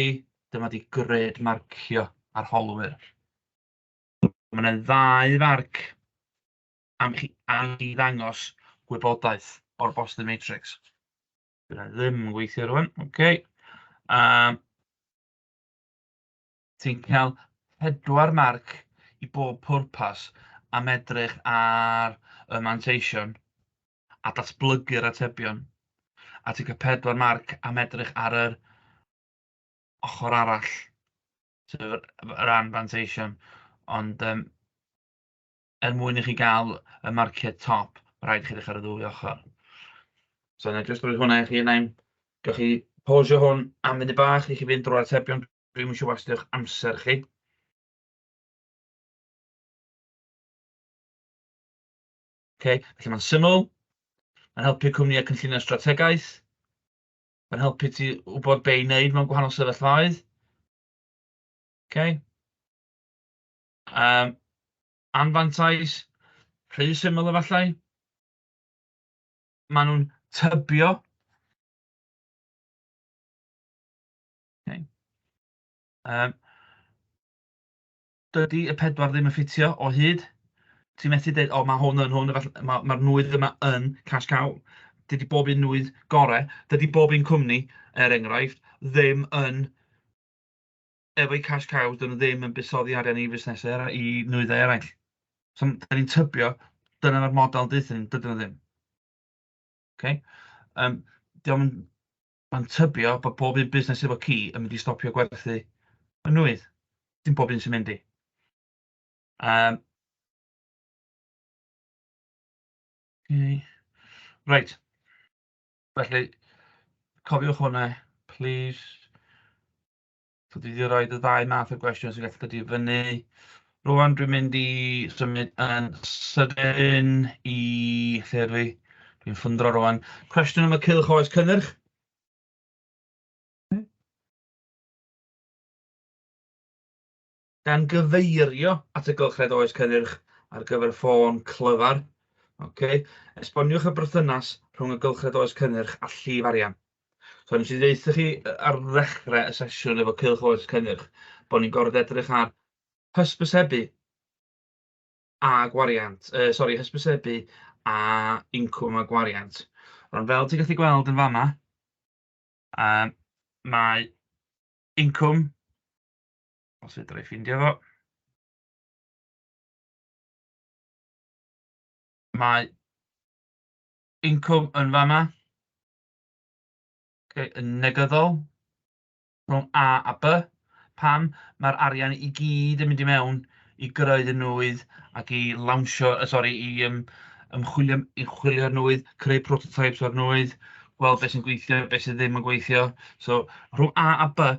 A: dyma 'di gred marcio arholwyr. Mae yna ddau farc am chi am i ddangos gwybodaeth o'r Boston Matrix. Dyna ddim yn gweithio rwan, oce. Okay. Um, Ti'n cael pedwar marc i bob pwrpas am edrych ar y manteision a datblygu'r atebion. Article 4, marc am edrych ar yr ochr arall, sef yr yr anfanteision, ond yym er mwyn i chi gael y marciau top, ma' raid i chi edrych ar y ddwy ochr. So na i jyst rhoi hwnna i chi, na i... Gewch chi pausio hwn am funud bach i chi fynd drwy'r atebion, dwi'm isio wastio'ch amser chi. Okay? Felly mae'n syml, mae'n helpu cwmnïau cynllunio strategaeth, mae'n helpu ti wybod be i wneud mewn gwahanol sefyllfaoedd. Okay? Um, anfantais, rhy syml efallai. Maen nhw'n tybio. Okay. Um, dydy y pedwar ddim yn ffitio o hyd. Ti'n methu dweud, o, mae hwn yn hwn, mae'r ma, ma nwydd yma yn cash cow. Dydy bob un nwydd gorau, dydy bob un cwmni, er enghraifft, ddim yn efo'i cash cows, dyn nhw ddim yn busoddi arian i fusnesau i nwyddau eraill. So, da ni'n tybio, dyna mae'r model dydyn nhw ddim. Okay? Um, diolch yn Mae'n tybio bod pob un busnes efo ci yn mynd i stopio gwerthu yn nwydd. Dim pob un sy'n mynd i. Um, okay. Right. Felly, cofiwch hwnna, please. So dwi 'di roid y ddau math o gwestiwn sy'n gallu dod i fyny. Rŵan dwi'n mynd i symud yn sydyn i... lle ydw i? Dwi'n ffwndro rŵan. Cwestiwn am y cylch oes cynnyrch. gan gyfeirio at y Gylchred Oes Cynnyrch ar gyfer ffôn clyfar. Ok, esboniwch y berthynas rhwng y Gylchred Oes Cynnyrch a llif arian. So, nes i ddeitha chi ar ddechrau y sesiwn efo Cylch Oes Cynnyrch, bod ni'n gorfod edrych ar hysbysebu a gwariant, uh, sori, hysbysebu a incwm a gwariant. Ond fel ti'n gallu gweld yn fama, uh, mae incwm Os fedra i ffeindio fo. Mae incwm yn fan'na. Ocê, yn negyddol rhwng A a B. Pam? Mae'r arian i gyd yn mynd i mewn i greu y nwydd ac i lawnsio, yy sori, i yym ymchwilio am- i chwilio'r nwydd, creu prototypes o'r nwydd, gweld be sy'n gweithio, be sy ddim yn gweithio. So rhwng A a B,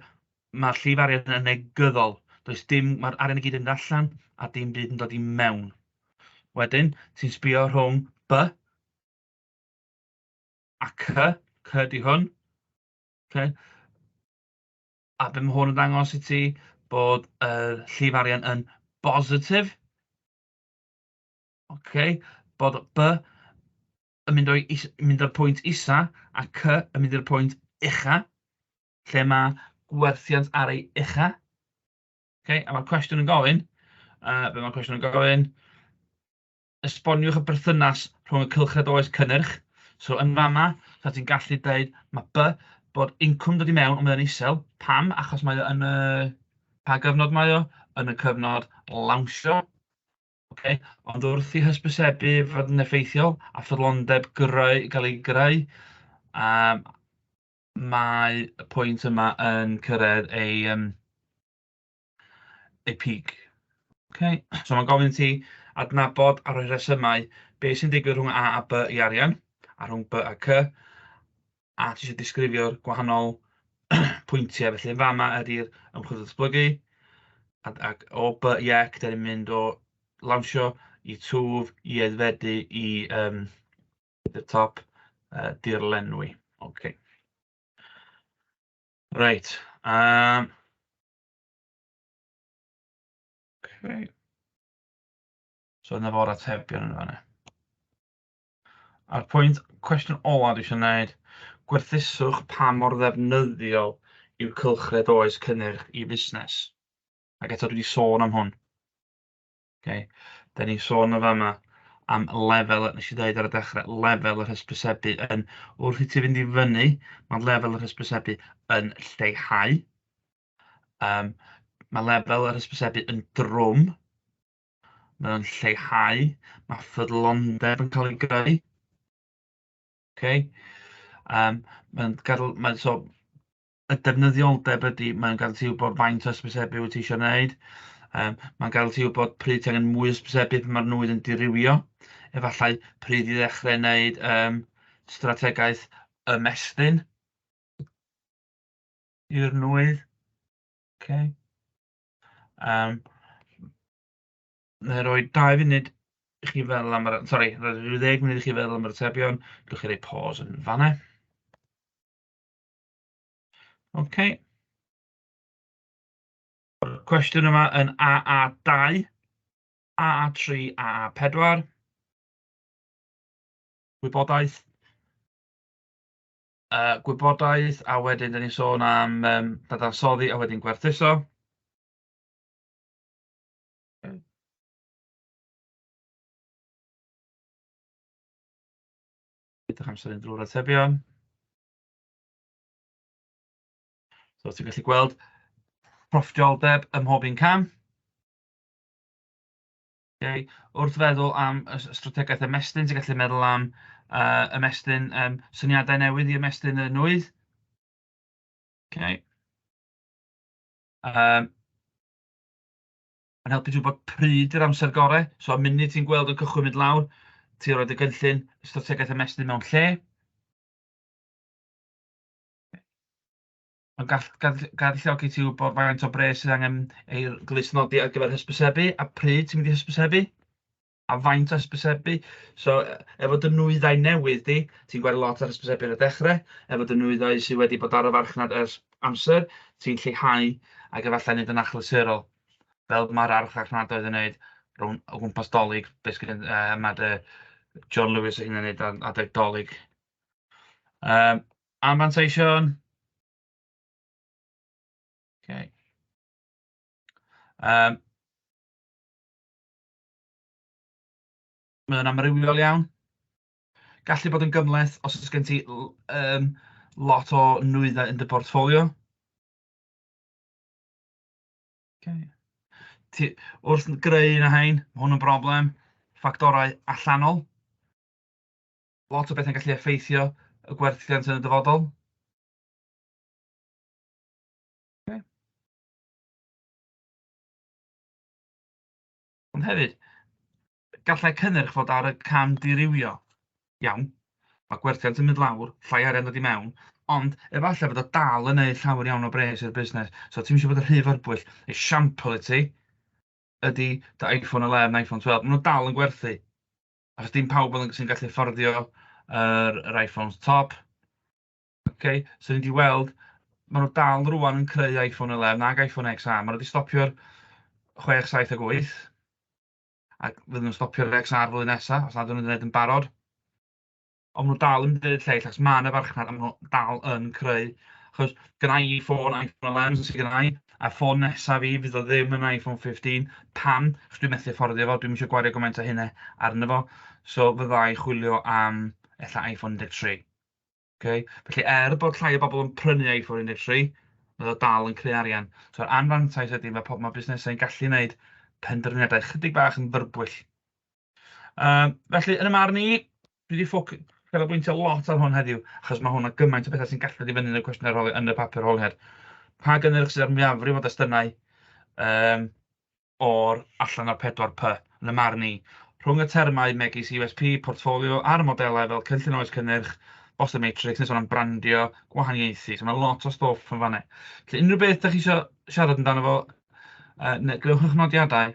A: Mae'r llif arian yn negyddol. Does dim, mae'r arian i gyd yn mynd allan a dim byd yn dod i mewn. Wedyn, ti'n sbio rhwng B a C, C di hwn. Okay. A beth mae hwn yn dangos i ti? Bod y uh, llif arian yn bositif. Okay. Bod B yn mynd, o'i, mynd o'r pwynt isa a C yn mynd i'r pwynt ucha. lle mae gwerthiant ar ei ucha. Okay? A mae'r cwestiwn yn gofyn, uh, be mae'r cwestiwn yn gofyn, esboniwch y berthynas rhwng y cylchred oes cynnyrch. So yn fama, so ti'n gallu dweud, mae by bod incwm dod i mewn ond mae'n isel. Pam? Achos mae o yn y... Pa gyfnod mae o? Yn y cyfnod lawnsio. Okay. Ond wrth i hysbysebu fod yn effeithiol a ffyddlondeb greu, gael ei greu, um, mae y pwynt yma yn cyrraedd ei yym ei peak. Ok, so mae'n gofyn i ti adnabod a rhoi rhesymau beth sy'n digwydd rhwng A a B i arian, a rhwng B a C, a ti eisiau disgrifio'r gwahanol pwyntiau. Felly yn fama ydy'r ymchwil datblygu, ac o B i Ec, da ni'n mynd o lawnsio i twf, i aeddfedu, i um, at y top, yy dirlenwi. Ok. Reit, yym... Ok. So dyna fo'r atebion yn fanna. A'r pwynt, cwestiwn ola dwi eisiau wneud, gwerthuswch pa mor ddefnyddiol yw cylchred oes cynnyrch i fusnes. Ac eto dwi wedi sôn am hwn. Ok dan ni'n sôn yn fama am lefel, wnes i ddeud ar y dechrau, lefel yr hysbysebu yn... wrth i ti fynd i fyny, mae lefel yr hysbysebu yn lleihau. Um, mae lefel yr hysbysebu yn drwm, mae o'n lleihau, mae ffyddlondeb yn cael ei greu. Okay? Um, mae'n gadw, mae, so, y defnyddioldeb ydy, mae'n gadael ti wybod faint o hysbysebu wyt ti eisiau gwneud. Um, mae'n gadael ti wybod pryd ti angen mwy hysbysebu pan mae'r nwydd yn dirywio. Efallai pryd i ddechrau wneud um, strategaeth ymestyn i'r nwydd. Okay. Um, Neu roi 2 funud i chi feddwl am yr... Sori, roi 10 munud i chi feddwl am yr atebion. Gwych chi roi pause yn fanna. Ok. Mae'r cwestiwn yma yn AA2, AA3, AA4. Gwybodaeth. Uh, gwybodaeth, a wedyn dyn ni'n sôn am um, dadansoddi a wedyn gwerthuso. Edrych amser yn drwy'r atebion. So ti'n gallu gweld profftoldeb ym mhob un cam. Okay. Wrth feddwl am y strategaeth ymestyn, ti'n gallu meddwl am uh, ymestyn, um, syniadau newydd i ymestyn y nwydd. Okay. Um, Mae'n helpu ti wybod pryd yr amser gorau. So, y munud ti'n gweld yn cychwyn mynd lawr, ti'n rhoi dy gynllun strategaeth ymestyn mewn lle. Mae'n gall- gall- galluogi ti i wybod faint o bres sydd angen ei glustnodi ar gyfer hysbysebu, a pryd ti'n mynd i hysbysebu, a faint o hysbysebu. So, e- efo dy nwyddau newydd di, ti'n gweld lot ar hysbysebu ar y dechrau, efo dy nwyddau sydd wedi bod ar y farchnad ers amser, ti'n lleihau ac efallai wneud yn achlysurol, fel mae'r archfarchnadoedd yn wneud rhwng o gwmpas 'Dolig, be sy gen- yy ma' dy John Lewis ei hun yn wneud ar adeg 'Dolig. Yym anfanteision? Ok yym mae o'n amrywiol iawn. Gallu bod yn gymhleth os oes gen ti l- yym lot o nwyddau yn dy portffolio. Ok ti wrth greu un o rhain, ma' hwn yn broblem, ffactorau allanol. lot o bethau'n gallu effeithio y gwerthiant yn y dyfodol. Okay. Ond hefyd, gallai cynnyrch fod ar y cam dirywio. Iawn, mae gwerthiant yn mynd lawr, llai arian dod i mewn, ond efallai bod o dal yn ei llawer iawn o bres i'r busnes. So ti'n eisiau bod yn rhy fyrbwyll. Esiampl i ti ydy dy iPhone 11, iPhone 12, maen nhw dal yn gwerthu. Achos dim pawb oedd yn... sy'n gallu fforddio yr yr Iphones top. Ok so ni 'di weld maen nhw dal rŵan yn creu Iphone 11 ac Iphone XR. Maen nhw 'di stopio ar 6, 7 ac 8 a fydden nhw'n stopio ar yr XR flwyddyn nesaf os nad ydyn nhw'n gwneud yn barod. Ond maen nhw dal yn deud lleill, achos mae 'na farchnad a maen nhw dal yn creu. Achos gynna i ffôn iPhone 11 sydd gynna i, a ffôn nesaf fi fydd o ddim yn iPhone 15. Pam? Achos dwi'n methu fforddio fo, dwi'm eisiau gwario gymaint o hynna arno fo. So fydda i chwilio am ella iPhone 13. Okay? Felly er bod llai o bobl yn prynu iPhone 13, mae o dal yn creu arian. So anfantais ydy, mae, mae busnesau'n gallu gwneud penderfyniadau chydig bach yn fyrbwyll. Yym felly yn 'y marn i, dwi 'di ffo- canolbwyntio lot ar hwn heddiw achos ma' hwn a gymaint o betha sy'n gallu dod i fyny yn y cwestiwn arholiad yn y papur arholiad. Pa gynnyrch sydd ar mwyafrif o destunau um, o'r allan o'r 4 P yn y marn i? Rhwng y termau megis USP, portfolio a'r modelau fel cynllun oes cynnyrch, Boston Matrix, nes o'n am brandio, gwahaniaethu. So mae lot o stoff yn fanna. Felly unrhyw beth da chi eisiau siarad amdano fo, uh, neu gwnewch eich nodiadau,